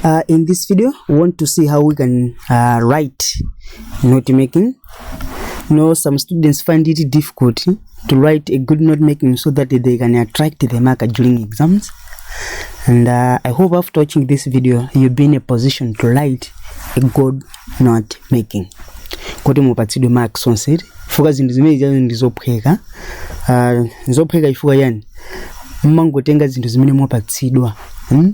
Uh, in this video, we want to see how we can uh, write note making. You know, some students find it difficult to write a good note making so that they can attract the marker during exams. And uh, I hope after watching this video, you'll be in a position to write a good note making. kuti mupatsidwe mark sonse chifukwa zinthu zimene zazo ndi zophweka Ah, zophweka chifukwa yani mmangotenga zinthu zimene mwapatsidwa hmm?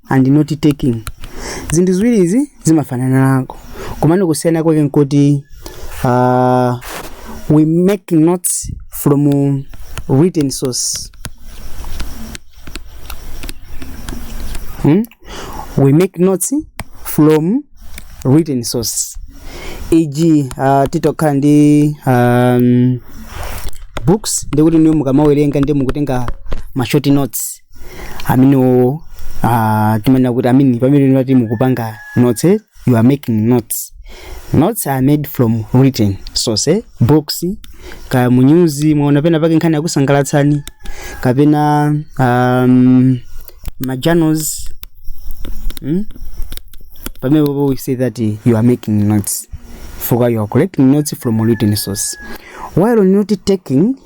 and note taking zinthu ziwiri izi zimafananako komano kusiyana kwake nkuti uh, we make notes from written source hmm? we make notes from written source eg uh, titakhala ndi um, books ndikuti inuyo mukamawerenga ndi mukutenga ma short notes amenewo uh, timanena kuti ameneyo pamene tinati mukupanga notes eh, you are making notes notes are made from written source eh, books kaya mu nyuzi mwaona pena pake nkhani yakusangalatsani kapena um, majournals mm? pamenepo we say that eh, you are making notes for you are collecting notes from written source while note taking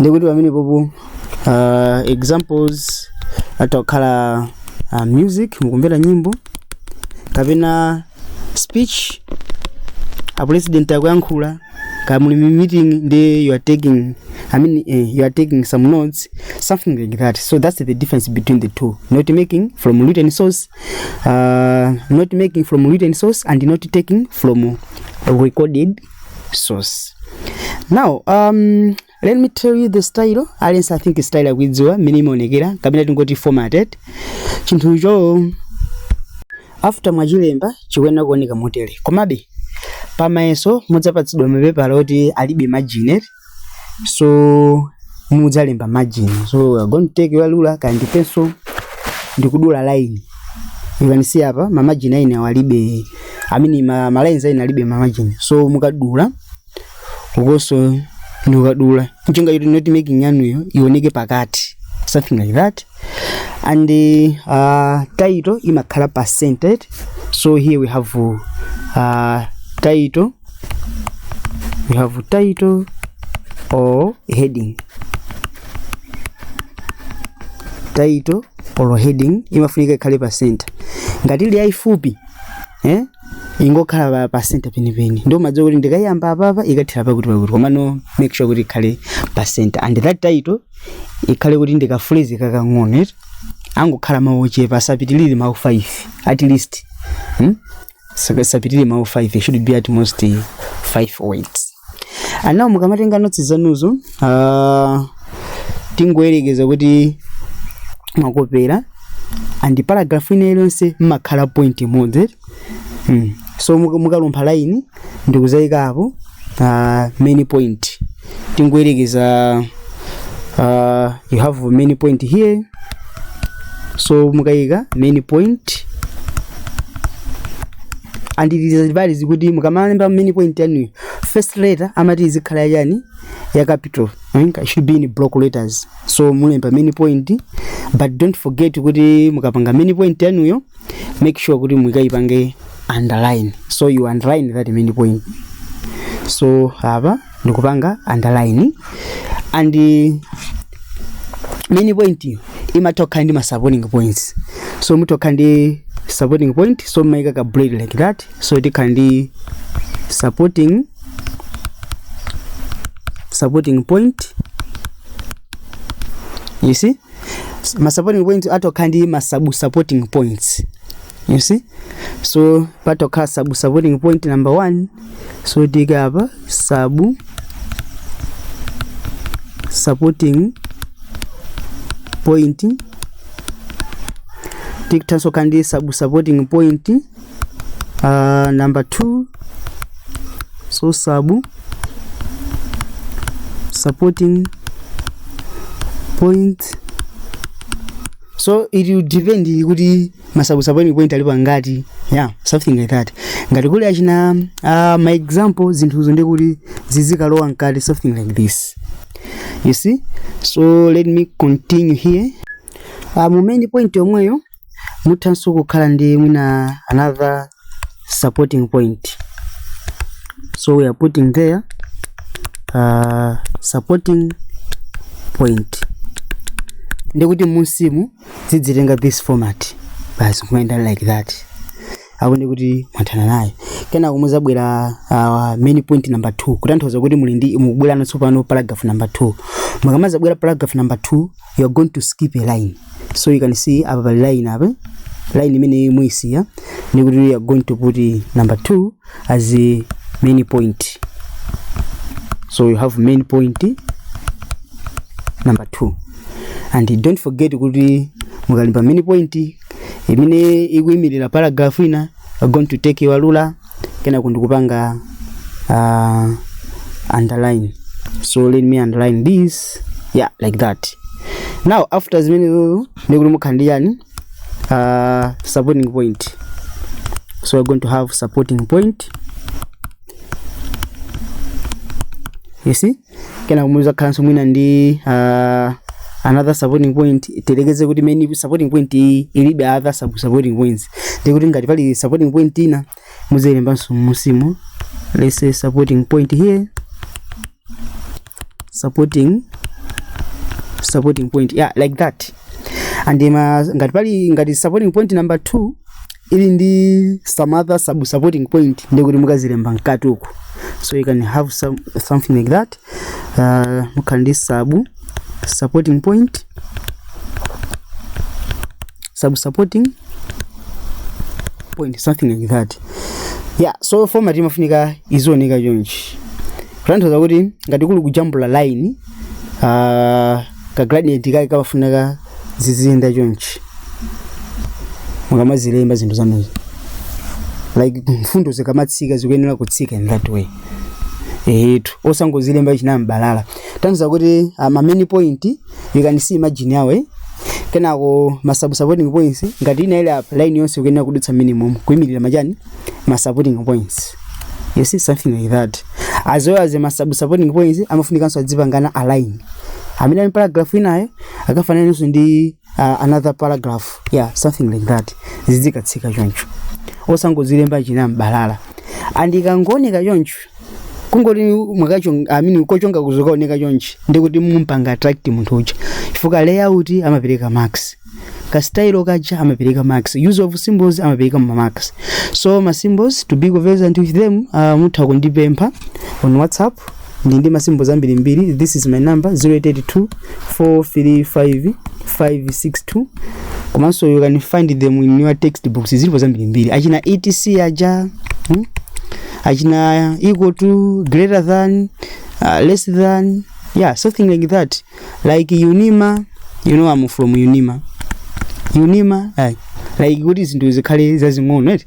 ndikuti pamene popo uh, examples atha kukhala uh, music mukumvera nyimbo kapena speech a president akuyankhula kaya muli mu meeting ndi you are taking i mean eh, you are taking some notes something like that so that's the difference between the two not making from written source uh, not making from written source and not taking from recorded source now um, let me tell you the style aliyense i think style akuidziwa mmene imaonekera kapena tingoti format eti chinthucho after mwachilemba chikuyenera kuoneka motere komabe pamayeso mudzapatsidwa mapepala oti alibe margin eti so mudzalemba margin so we are going to take your ruler kandi pencil ndikudula line you can see apa ma margin aine awalibe i mean ma, ma lines aine alibe ma margin so mukadula ukoso ndikukadula njinga yoti not making yanuyo ioneke pakati something like that and uh, title imakhala percentage so here we have uh, title we have title or heading title or heading imafunika ikhale pa center ngati ili yayifupi eh ingokhala pa, pa center penipeni ndiye umadziwa kuti ndikayiyamba apapa ikathera pakuti pakuti komano make sure kuti ikhale pa center and that title ikhale kuti ndi ka phrase kakang'ono eti angokhala mawu ochepa asapitirire mawu 5 at least hmm? Saka- asapitirire mawu 5 they should be at most 5 words ndiyeno mukamatenga notsi zanuzo ah, tingoyerekeza kuti mwakopera and paragraph ina iliyonse mumakhala point imodzi mm. so muka- mukalumpha line ndikuzayikapo uh, main point tingoyerekeza uh, you have main point here so mukayika main point and it is advised kuti mukamalemba main point yanuyo first letter amati izikhale yachani ya capital mm, it should be in block letters so mulemba main point but don't forget kuti mukapanga main point yanuyo make sure kuti mukaipange underline so you underline that main point so apa ndikupanga underline and eh, main point iyo imatha kukhala ndi ma supporting points so mutha kukhala ndi supporting point so mumaika ka bullet like that so tikhala ndi supporting supporting point you see ma supporting points atokhala ndi ma sub supporting points you see so patokhala sub supporting point number 1 so tika apa sub supporting point tikuthanso kandi sub supporting point Uh, number 2 so sub supporting point so it will depend kuti ma sub supporting point alipo angati yeah something like that ngati kuli achina uh, my example zinthuzo ndi kuti zizikalowa mkati something like this you see so let me continue here uh, mu main point yomweyo muthanso kukhala ndi mwina another supporting point so we are putting there uh, supporting point ndikuti mmunsimu zidzitenga this format basi kumayenda like that apo ndikuti mwathana naye kenako muzabwera uh, main point number 2 kutanthauza kuti muli ndi mukubwera tsopano paragraph number 2 mukamazabwera paragraph number 2 you are going to skip a line so you can see apa pali line apa line imene muyisiya ndi kuti you are going to put number 2 as a main point so you have main point number 2 and don't forget kuti mukalimba main point imene ikuyimirira paragraph ina you are going to take your ruler kenako ndikupanga uh, underline so let me underline this yeah like that now after zimenezo ndikuti mukhala ndi yani uh, supporting point so we're going to have supporting point you see kenako muzakhalanso mwina ndi uh, another supporting point tiyerekeze kuti main supporting point iyi ilibe other sub supporting points ndi kuti ngati pali supporting point ina muzilembanso mmunsimu let's say supporting point here supporting supporting point yeah like that and ma ngati pali ngati supporting point number 2 ili ndi some other sub supporting point ndi kuti mukazilemba mkati uku so you can have some, something like that uh, mukhala ndi sub supporting point sub supporting point something like that yeah so format imafunika izioneka chonchi kutanthauza kuti ngati kuli kujambula line uh, ka gradient kake kamafunika ziziyenda chonchi mukamazilemba zinthu zanuzo like mfundo zikamatsika zikuyenera kutsika in that way ehetu osangozilemba chinambalala kutanthauza kuti ah, ma main point you can see margin yawo eh? kenako ma sub supporting points ngati ina ile apa line yonse ikuyenera kudutsa m'menemu kuimirira machani ma supporting points you see something like that as well as ma sub supporting points amafunikanso adzipangana align amene ali paragraph inayo akafananenso ndi uh, another paragraph yeah something like that zizikatsika choncho osangozilemba chinambalala and ikangooneka choncho kungoti mwakacho amini kochonga kuzokaoneka chonchi ndikuti mumpanga attract munthu uja chifukwa layout amapereka marks ka style kaja amapereka marks use of symbols amapereka ma marks so ma symbols to be conversant with them uh, mutha kundipempha on whatsapp ndili ndi ma symbols ambirimbiri this is my number 0882 435 562 komanso you can find them in your textbooks zilipo zambirimbiri achina etc aja hmm? achina equal to greater than uh, less than yeah something like that like unima, you know I'm from unima unima ayi like kuti zinthu zikhale zazing'ono right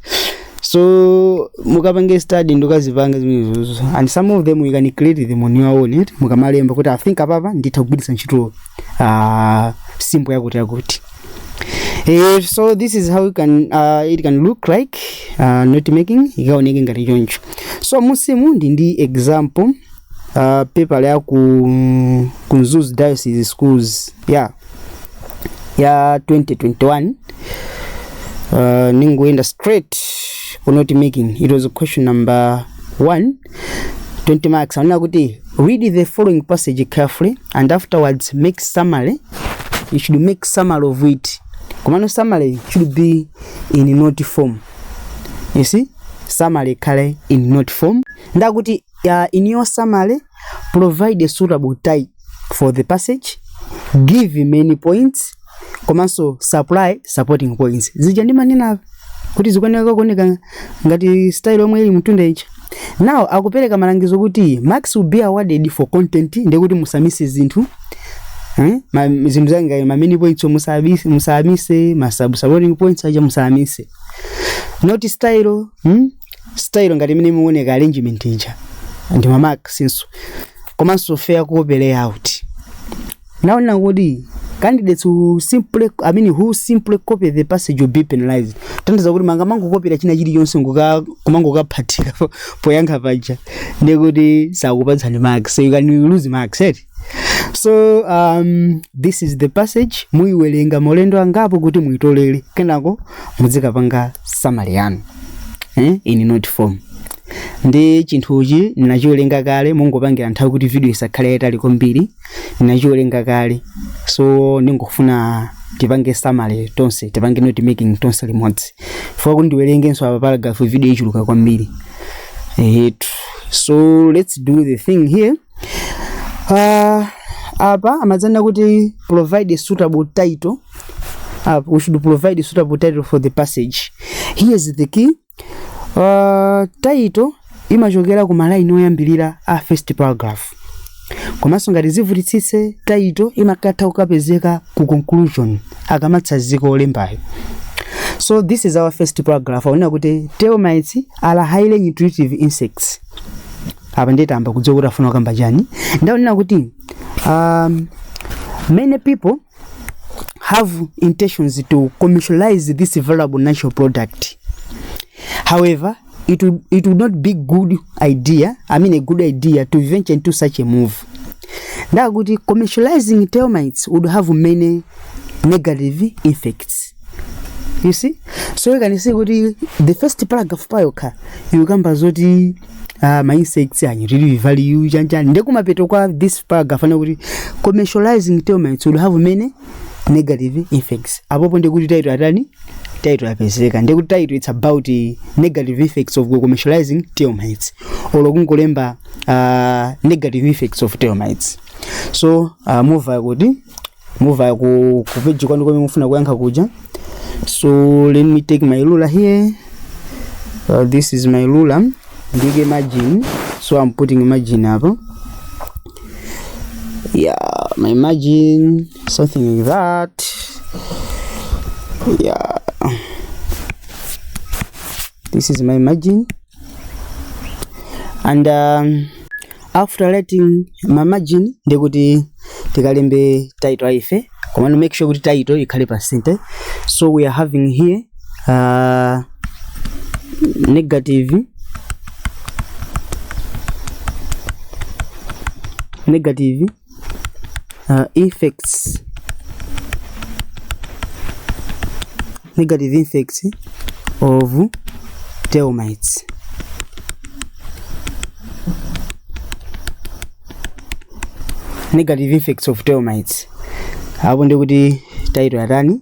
so mukapanga study mudzikazipanga zimenezozo and some of them you can create them on your own right mukamalemba kuti i think apapa nditha kugwiritsa ntchito uh, symbol yakuti yakuti Eh, so this is how it can, uh, it can look like uh, note making ikaoneke ngati choncho so musimu ndi ndi example uh, paper ya ku, mm, ku Mzuzu Diocese Schools ya ya 2021 uh, ningoenda straight ku note making it was question number 1 20 marks anena kuti read the following passage carefully and afterwards make summary you should make summary of it komano summary should be in note form you see summary kale in note form ndakuti ya iniyo summary provide a suitable time for the passage give main points komanso supply supporting points zija ndimanena kuti zikuoneka kuoneka ngati style yomwe ili m'mtunda ija now akupereka malangizo kuti marks will be awarded for content ndekuti musamise zinthu Hmm? Ma, zinthu zake ngati ma main points musamise, musamise ma sub supporting points aja musamise not style hmm? style ngati imene imaoneka arrangement ija ndi ma marks-nso komanso fair copy layout akunena kuti candidates who simply i mean who simply copy the passage will be penalized kutanthauza kuti mukamangokopera china chilichonse nkumangokaphatika poyankha paja ndekuti sakupatsani marks so you can lose marks eti so um, this is the passage muyiwerenga maulendo angapo kuti muyitolere kenako muzikapanga summary yanu eh? in note form ndi chinthuchi ndinachiwerenga kale ndingopangira nthawi kuti video isakhale yayitali kwambiri ndinachiwerenga kale so ndingofuna tipange summary tonse tipange note making tonse limodzi sindifuna kuti ndiwerengenso apa paragraph video ichuluka kwambiri eti so let's do the thing here Uh, apa amadzanena kuti provide a suitable title uh, we should provide a suitable title for the passage here is the key uh, title imachokera ku malaini oyambirira a first paragraph komanso ngati zivutitsitse title imakatha kukapezeka ku conclusion akamatsazika olembayo so this is our first paragraph akunena kuti termites are highly intuitive insects apa ndiye tayamba kudziwa kuti afuna kukamba chani ndaonera kuti um, many people have intentions to commercialize this valuable natural product however it would, it would not be good idea i mean a good idea to venture into such a move ndakuti commercializing termites would have many negative effects you see so you can see kuti the first paragraph payokha ikukamba zoti uh, ma insects are really valued chanichani ndekumapeto kwa this paragraph anena kuti commercializing termites will have many negative effects apopo ndekuti title yatani title yapezeka ndekuti title it's about the negative effects of commercializing termites olo kungolemba uh, negative effects of termites so uh, mukumva kuti move ku ku page kwanu komwe mufuna kuyankha kuja so let me take my ruler here uh, this is my ruler ndike margin so i'm putting margin apa yeah my margin something like that yeah this is my margin and um, after writing ma margin ndi kuti tikalembe title aife komano make sure kuti title ikhale pa center so we are having here uh, negative negative uh, effects negative effects of termites negative effects of termites apo ndikuti taito yatani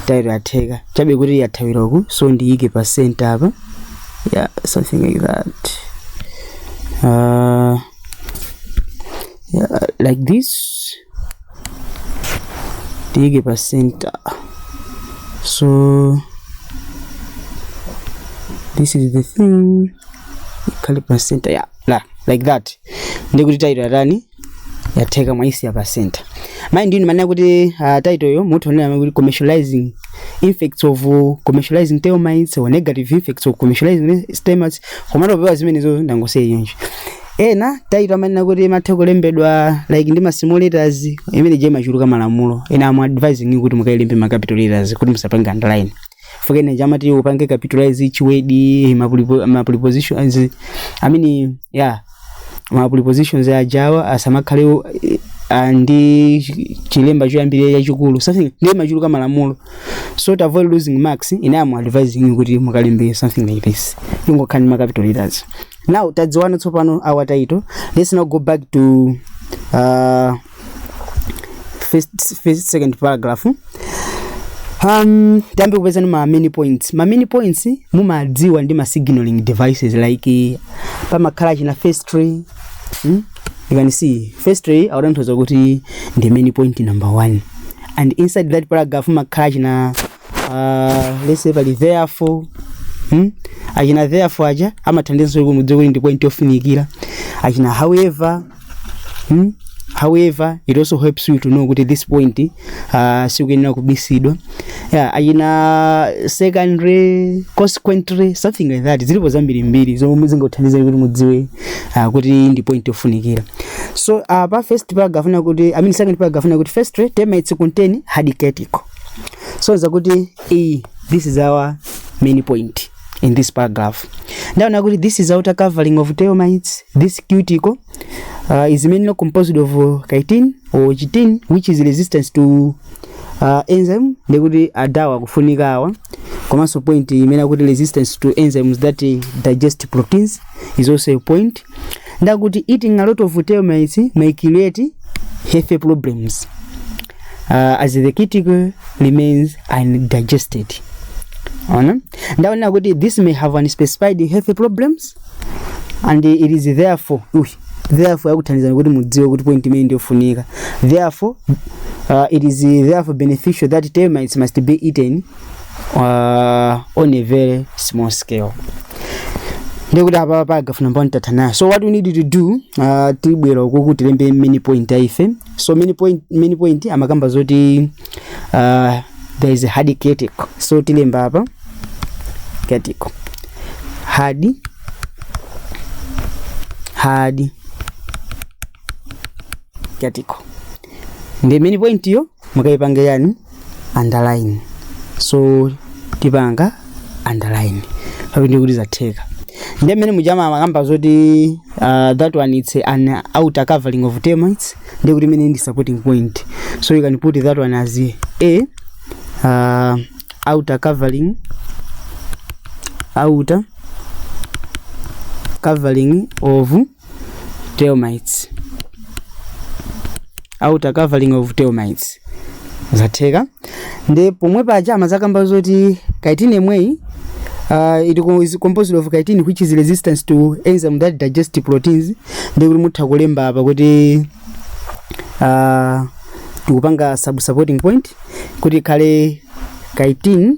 taito yatheka chabe kuti yathawira uku so ndiyike pa center apa yeah something like that uh, yeah, like this tiike pa center so this is the thing ikhale pa center yeah, la, like that ndikuti title yatani yatheka mwaisiya pa center mind you munene kuti uh, title yo mutha onena kuti commercializing effects of uh, commercializing termites or negative effects of commercializing termites komano popewa zimenezo ndangosiya choncho ena title amanena kuti imatha kulembedwa like ndi ma small letters imene ija machuluka malamulo ine am advising you kuti mukailembe ma capital letters kuti musapange underline chifukwa ena aja amati upange capitalize chiwedi ma prepo- ma prepositions i mean yeah ma prepositions ajawa asamakhale o- eh, ah, ndi chi- chilemba choyambirira chachikulu something ndiye machuluka malamulo so to avoid losing marks ine am advising you kuti mukalembe something like this ingokhala ndi ma capital letters now tadziwana tsopano our title let's now go back to uh, first, first second paragraph um, tiyambe kupezano ma main points ma main points mumawadziwa ndi ma signaling devices like pamakhala achina firstly hmm? you can see firstly akutanthauza kuti ndi main point number one and inside that paragraph mumakhala achina uh, let's say pali therefore hmm? achina therefore aja amathandizanso kuti mudziwe kuti ndi point yofunikira achina however hmm? however it also helps you to know kuti this point uh, sikuyenera kumisidwa yeah, achina secondly consequently something like that zilipo zambirimbiri zomwe zingakuthandize kuti mudziwe uh, kuti ndi point yofunikira so uh, pa first paragraph nakuti i mean second paragraph nakuti firstly termites contain hard cuticle sonza kuti iyi this is our main point in this paragraph ndaona kuti this is outer covering of tailmites this cuticle uh, is mainly composed of uh, chitin or chitin which is resistance to uh, enzyme ndekuti adawa kufunika awa komanso point imene akuti resistance to enzymes that uh, digest proteins is also a point ndakuti eating a lot of tailmites may create health problems uh, as the cuticle remains undigested ona ndaonera kuti this may have unspecified health problems and it is therefore uy, therefore yakuthandizani kuti mudziwe kuti point imene ndiyofunika therefore uh, it is therefore beneficial that termites must be eaten uh, on a very small scale ndikuti apa paragraph number one tatha nayo so what we need to do uh, tibwera ukuku tilembe main point ya ife so main point, main point amakamba zoti uh, there is a hard cuticle so tilemba apa cuticle hard hard cuticle ndi main point yo mukaipange yani underline so tipanga underline apa ndiye kuti zatheka ndiye mmene mujama amakamba zoti uh, that one it's an outer covering of termites ndiye kuti imeneyi ndi supporting point so you can put that one as a uh, outer covering outer covering of termites outer covering of termites zatheka ndi pomwe paja amazakamba zoti chitin imeneyi uh, it co- is composed of chitin which is resistance to enzyme that digest proteins ndi kuti mutha kulemba apa kuti uh, tikupanga sub supporting point kuti ikhale chitin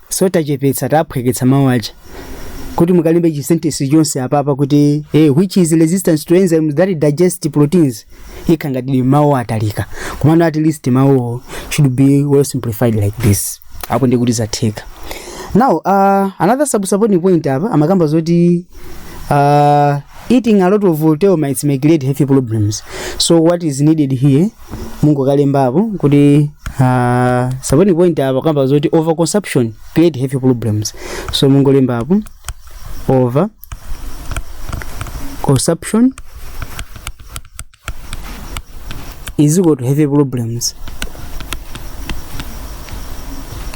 so tachepetsa taphweketsa mawu aja kuti mukalembe chisentesi chonse apapa kuti eh, which is resistance to enzymes that digest proteins zikhala ngati ndi mawu atalika komano at least mawuwo should be well simplified like this apo ndi kuti zatheka now uh, another subsupporting point apa amakamba zoti uh, eating a lot of termites may create health problems so what is needed here mungokalembapo kuti uh, saboni point apa kamba zoti overconsumption create heavy problems so mungolembapo over consumption is equal to heavy problems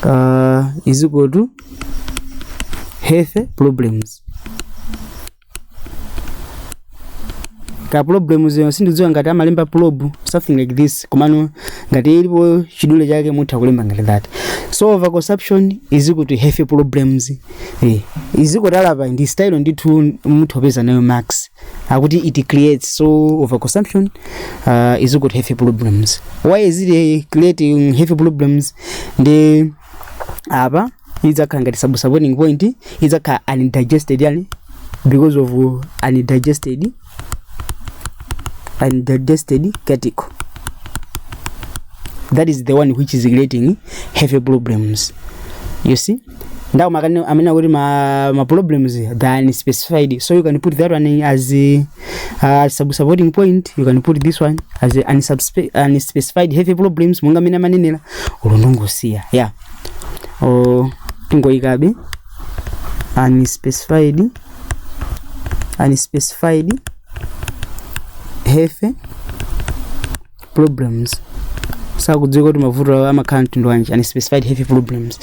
uh, is equal to health problems ka problems sindidziwa ngati amalemba prob something like this komano ngati ilipo chidule chake mutha kulemba ngati that so over consumption is equal to health problems eh is equal to apapa ndi style ndithu mutha kupeza nayo marks akuti it creates so over consumption uh, is equal to health problems why is it eh, creating health problems ndi apa idzakhala ngati subsupporting point idzakhala undigested yani because of undigested undigested cuticle that is the one which is creating heavy problems you see ndawo makani amene akuti ma, ma problems they are unspecified so you can put that one as a, uh, sub supporting point you can put this one as a unsubspe- unspecified heavy problems monga amene amanenera ulondongosiya yeah o tingoyikabe unspecified unspecified health problems sakudziwa kuti mavuto awo amakhala a mtundu wanji unspecified health problems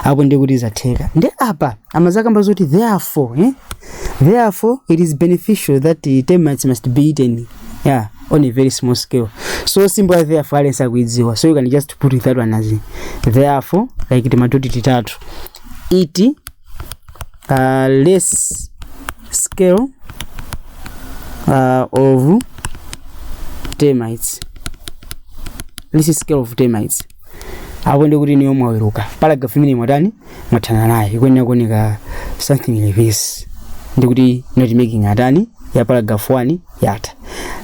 apo ndiye kuti zatheka ndi apa amazakamba zoti therefore eh? therefore it is beneficial that the termites must be eaten yeah on a very small scale so symbol ya therefore aliyense akuidziwa so you can just put it that one as therefore like timatoti titatu it uh, less scale uh, of termites less scale of termites apo ndi kuti ndiye mwaweruka paragraph imene mwatani mwathana nayo ikuyenera kuoneka something like this ndikuti note making yathu ya paragraph 1 yatha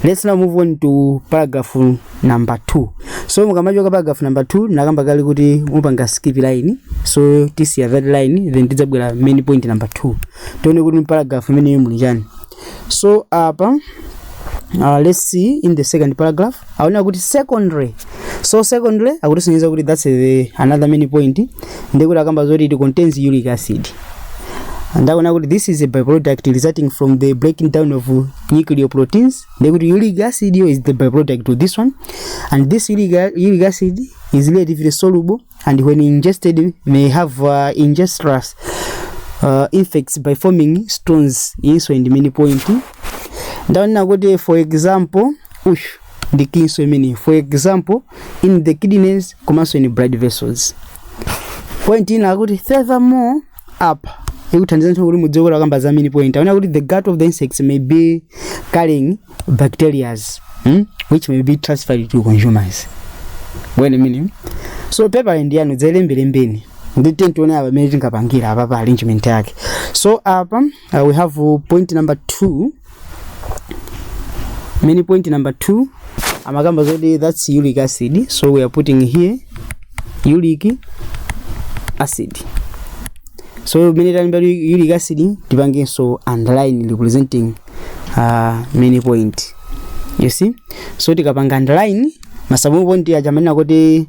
let's now move on to paragraph number 2 so mukamachoka paragraph number 2 nakamba kali kuti mupanga skip line so tisiya that line then tidzabwera main point number 2 tione kuti paragraph imeneyo muli chani so apa uh, let's see in the second paragraph aona kuti secondary so secondary akutisonyeza kuti that's the another main point ndikuti akamba zoti it contains uric acid ndaona kuti this is a byproduct resulting from the breaking down of nuclear proteins ndikuti uric acid yo is the byproduct to this one and this uric, uric acid is relatively soluble and when ingested may have uh, injurious uh, effects by forming stones iyinso ndi main point ndaona kuti for example ush ndi key nso imeneyi for example in the kidneys komanso in blood vessels point ina akuti furthermore apa ikuthandiza ndithu kuti mudziwe kuti akamba za main point aona kuti the gut of the insects may be carrying bacterias hmm? which may be transferred to consumers when meaning so paper end yanu dzelembelembeni ndiye tiyeni tione apa mmene tingapangira apa pa arrangement yake so apa uh, we have uh, point number 2 mini point number 2 amakamba zoti that's uric acid so we are putting here uric acid so mene tanimba uric acid tipangenso underline representing uh, mini point you see so tikapanga underline masamu point aja manena kuti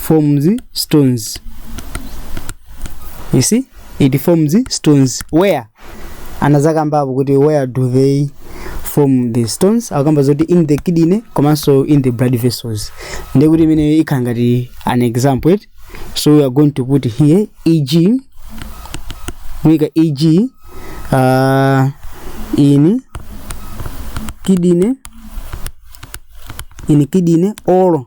forms stones you see it forms stones where anazakambapo kuti where do they form the stones akamba zoti in the kidney komanso in the blood vessels ndiye kuti imene ikhala ngati an example it so we are going to put here eg muika eg uh, in kidney in kidney or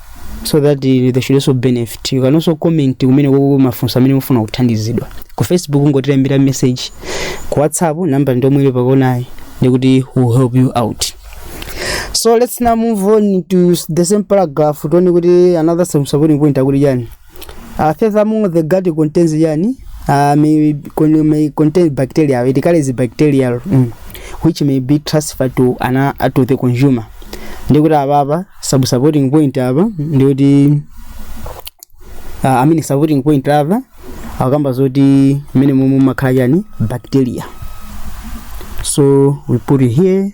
so that uh, they should also benefit you can also comment komweko mafunso amene mufuna kuthandizidwa ku facebook kungotilembera message ku whatsapp namba ndi yomwe ili pakonayi ndiye kuti we'll help you out so let's now move on to s- the same paragraph tione kuti another sub- supporting point akuti chani Uh, furthermore, the gut contains yani uh, may, con- may contain bacteria. It carries bacterial mm, which may be transferred to ana uh, to the consumer. Ndikuti apa apa sub supporting point apa ndikuti uh, I mean supporting point apa akamba zoti mmene momwe makhala yani bacteria. So we put it here.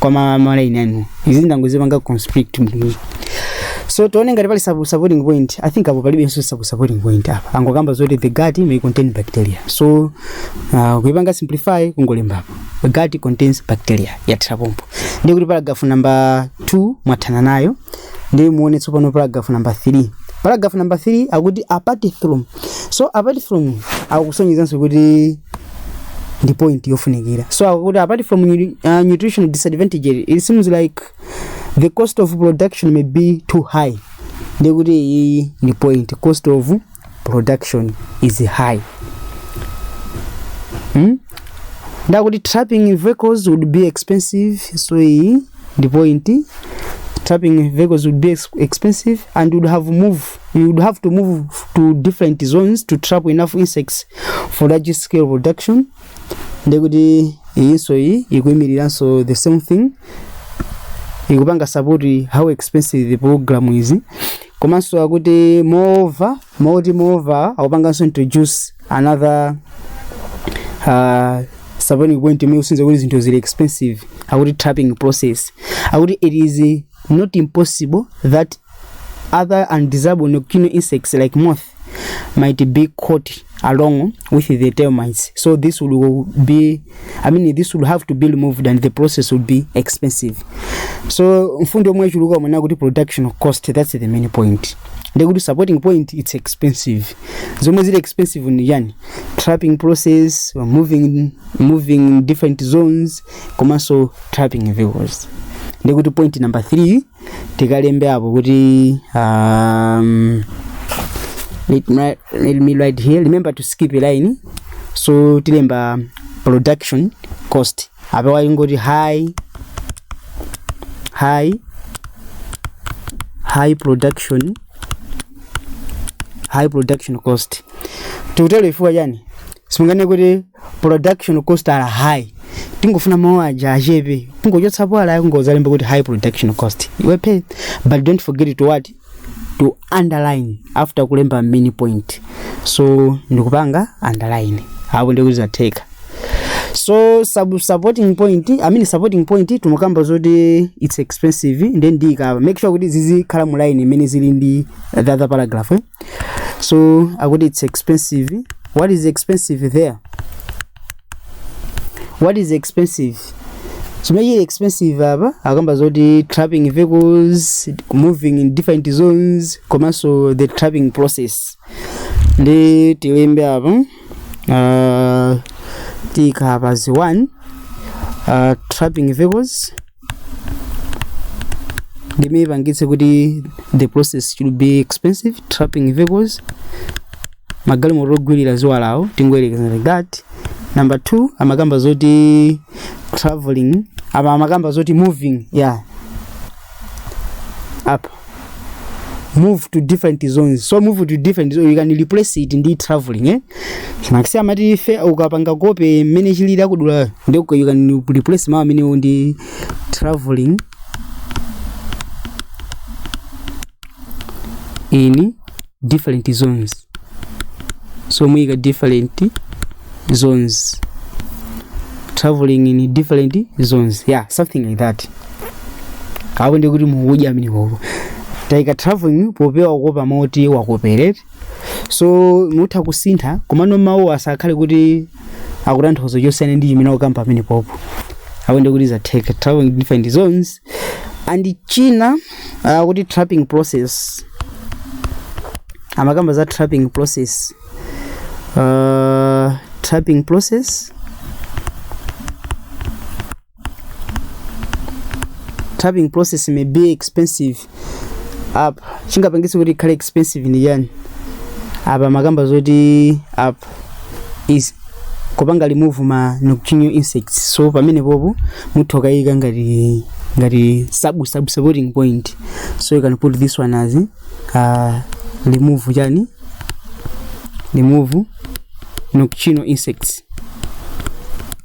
koma ma line anu izi ndangozipanga constrict mdini so tione ngati pali sub- supporting point i think apo palibenso sub- supporting point apa angokamba zoti the gut may contain bacteria so uh, kuipanga simplify kungolembapo the gut contains bacteria yathera pompo ndiye kuti paragraph number 2 mwathana nayo ndiye muone tsopano paragraph number 3 paragraph number 3 akuti apart from so apart from akusonyezanso kuti ndi point yofunikira so akuti apart from nu- uh, nutritional disadvantage it seems like the cost of production may be too high ndiye kuti iyi ndi point cost of production is high hmm? ndiye akuti trapping vehicles would be expensive so iyi ndi point trapping vehicles would be ex- expensive and would have move you would have to move to different zones to trap enough insects for large scale production ndekuti iyinso iyi ikuyimiriranso the same thing ikupanga support how expensive the program is komanso akuti moreover mawu oti moreover akupanganso introduce another uh, supporting point imene ikusonyeza kuti zinthu zili expensive akuti trapping process akuti it is not impossible that Other undesirable nocular insects like moth might be caught along with the termites. So this will be, I mean, this will have to be removed and the process will be expensive. So mfundo yomwe ichuluka umene kuti production cost, that's the main point. ndekuti supporting point it's expensive zomwe zili expensive ni yani trapping process moving, moving different zones komanso trapping vehicles ndekuti point number 3 tikalembe apo kuti um, let, me, let me write here remember to skip a line so tilemba production cost apa waingoti high high high production high production cost tikutero chifukwa chani simungane kuti production costs are high tingofuna mawu aja achepe kungochotsapo are kungozalemba kuti high production cost iwe pay but don't forget to what to underline after kulemba main point so ndikupanga underline apo ndikuzatheka so sub supporting point i mean supporting point timakamba zoti it's expensive then ndikapanga make sure kuti zizikhala mu line imene zili ndi the other paragraph eh? so akuti it's expensive what is expensive there what is expensive chimene chili expensive apa akamba zoti trapping vehicles moving in different zones komanso the trapping process ndiye tilembe apa uh, tiika apa zi 1 uh, trapping vehicles ndi imene ipangitse kuti the process should be expensive trapping vehicles magalimoto ogwirira ziwalawo tingoyerekeza like that number two amakamba zoti traveling apa amakamba zoti moving yeah apa move to different zones so move to different zones you can replace it ndi traveling eh maxi amati ife ukapanga kope mmene chilili akudulani ndi uka- you can replace mawu amenewo ndi traveling in different zones so muyika different zones traveling in different zones yeah something like that apo ndi kuti mukudya amene pompo taika traveling popewa kukopa moti wakoperate so mutha kusintha komano mawu asakhale kuti akutanthauza chosiyana ndi chimene wakamba amene pompo apo ndi kuti zatheka traveling in different zones ndi china uh, kuti trapping process amakamba za trapping process uh, trapping process trapping process may be expensive apa chingapangitse kuti ikhale expensive ndi chani apa amakamba zoti apa is kupanga remove ma nocturnal insects so pamene popo mutha ukayika ngati ngati sub sub supporting point so you can put this one as uh, remove chani remove nocturnal insects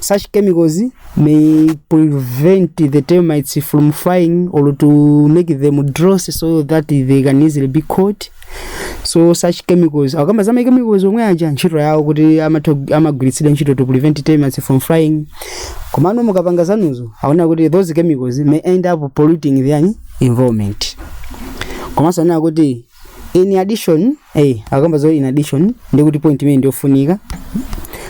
Such chemicals may prevent the termites from flying or to make them drowsy so that they can easily be caught. So such chemicals akamba za machemicals omwe aja ntchito yawo kuti amatho- amagwiritsidwa ntchito to prevent termites from flying. Komano mukapanga zanuzo anena kuti those chemicals may end up polluting their environment. Komanso anena kuti in addition eh akamba zoti in addition ndi kuti point imene ndiyofunika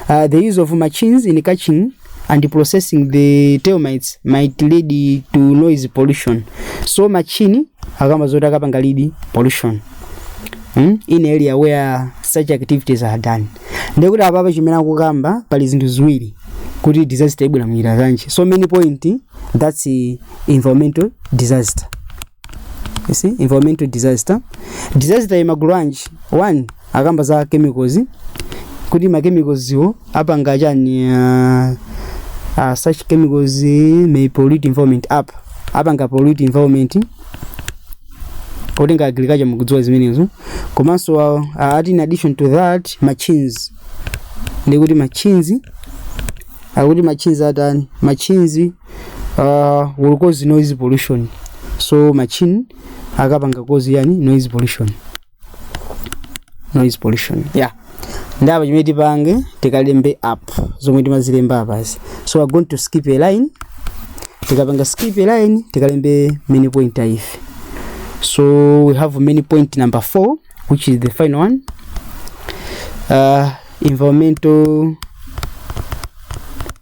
uh, the use of machines in catching and processing the termites might lead to noise pollution so machine akamba zoti akapangadi pollution mm? in areas where such activities are done ndekuti apapa chimene akukamba pali zinthu ziwiri kuti disaster ibwera munjira zanji so many point that's eh, environmental disaster You see, environmental disaster. Disaster imagulu anji. One, akamba za chemicals. Kuti ma chemicals wo apanga chani uh, uh, such chemicals eh, may pollute environment apa. Apanga pollute environment. Okutenga agriculture mukudziwa zimenezo. Komanso uh, uh, in addition to that machines. Ndikuti machines akuti machinzi atani machinzi uh, will cause noise pollution so machine akapanga cause yani noise pollution noise pollution yeah ndaba chimene tipange tikalembe app zomwe timazilemba apazi so we're going to skip a line tikapanga skip a line tikalembe many point if so we have many point number 4 which is the final one uh, environmental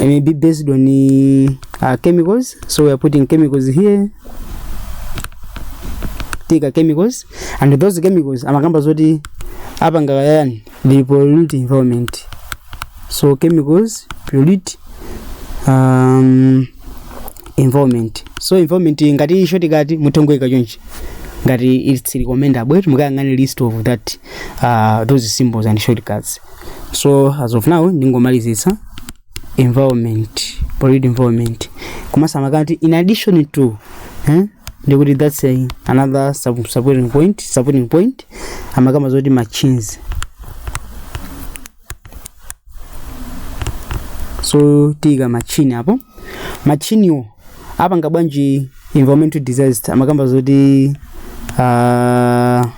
maybe based on the uh, chemicals so we are putting chemicals here tika chemicals and those chemicals amakamba zoti apanga yani they pollute environment so chemicals pollute um, environment so environment ngati isho tikati mutongoika chonchi ngati it's recommendable mukayang'ane list of that uh, those symbols and shortcuts so as of now ndingomalizitsa environment polluted environment komanso amakamba kuti in addition to eh, ndikuti that's a, another sub, supporting point supporting point akukamba zoti machines so tiika machine apo machiniwo apanga bwanji environmental disaster akukamba zoti uh,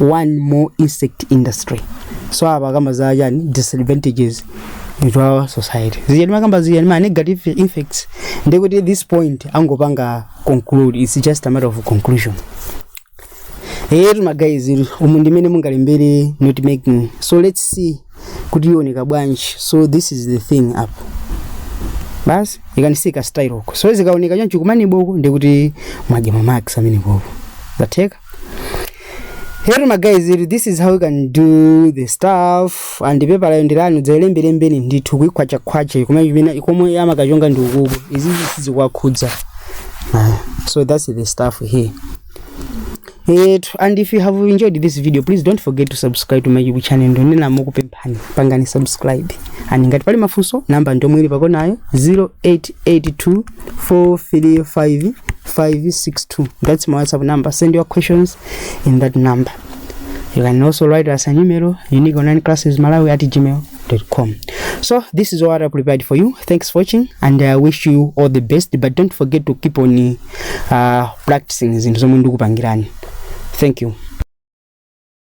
one more onset industry so apa akamba za chani disadvantages to our society ziyani akukamba ziyani ma negative effects ndikuti at this point tingopanga conclude it's just a matter of conclusion eyetu magayizi umu ndimene mungalembere note making so let's see kuti ioneka bwanji so this is the thing apa basi ikaonekera style uko so zikaoneka choncho kumaneboko ndikuti mwadya mamax kumaneboko zatheka Eyetu magayizi, this is how you can do the stuff and paper yo ndilani mudzailembelembeni ndithu kuikhwacha khwacha kumene chimene komwe amakachonga ndi uku izi sizikuwakhudza Ah, so that's the stuff Eyetu, and if you have enjoyed this video please don't forget to subscribe to my youtube channel ndikunena ndikupempha ani pangani subscribe ani ngati pali mafunso namba ndomwe ili pakonayo 0882 435 562 that's my whatsapp number send your questions in that number you can also write us an email unique online classes malawi at gmail.com so this is what i prepared for you thanks for watching and i wish you all the best but don't forget to keep on uh, practicing zinthu zomwe ndikupangirani thank you